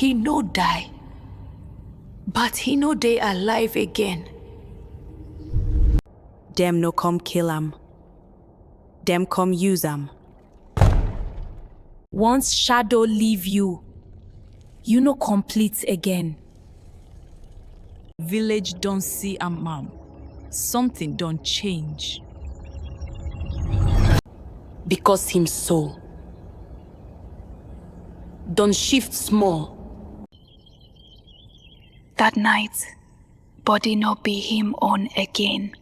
He no die, but he no dey alive again. Dem no come kill am. Dem come use am. Once shadow leave you, you no complete again. Village don see am am. Something don change. Because him soul don shift small. That night, body no be him own again.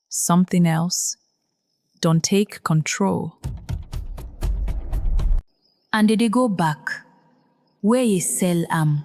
Something else don take control. And they dey go back where ye sell am.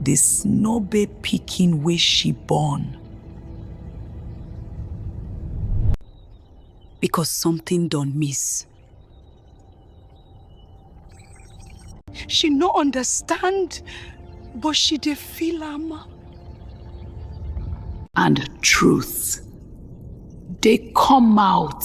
the snobe pikin wey she born. because something don miss. She no understand, but she dey feel am. And truth dey come out.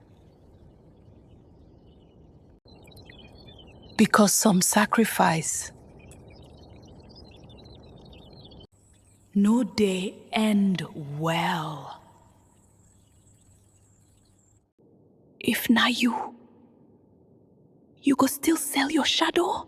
Because some sacrifice no dey end well. If na you, you go still sell your shadow?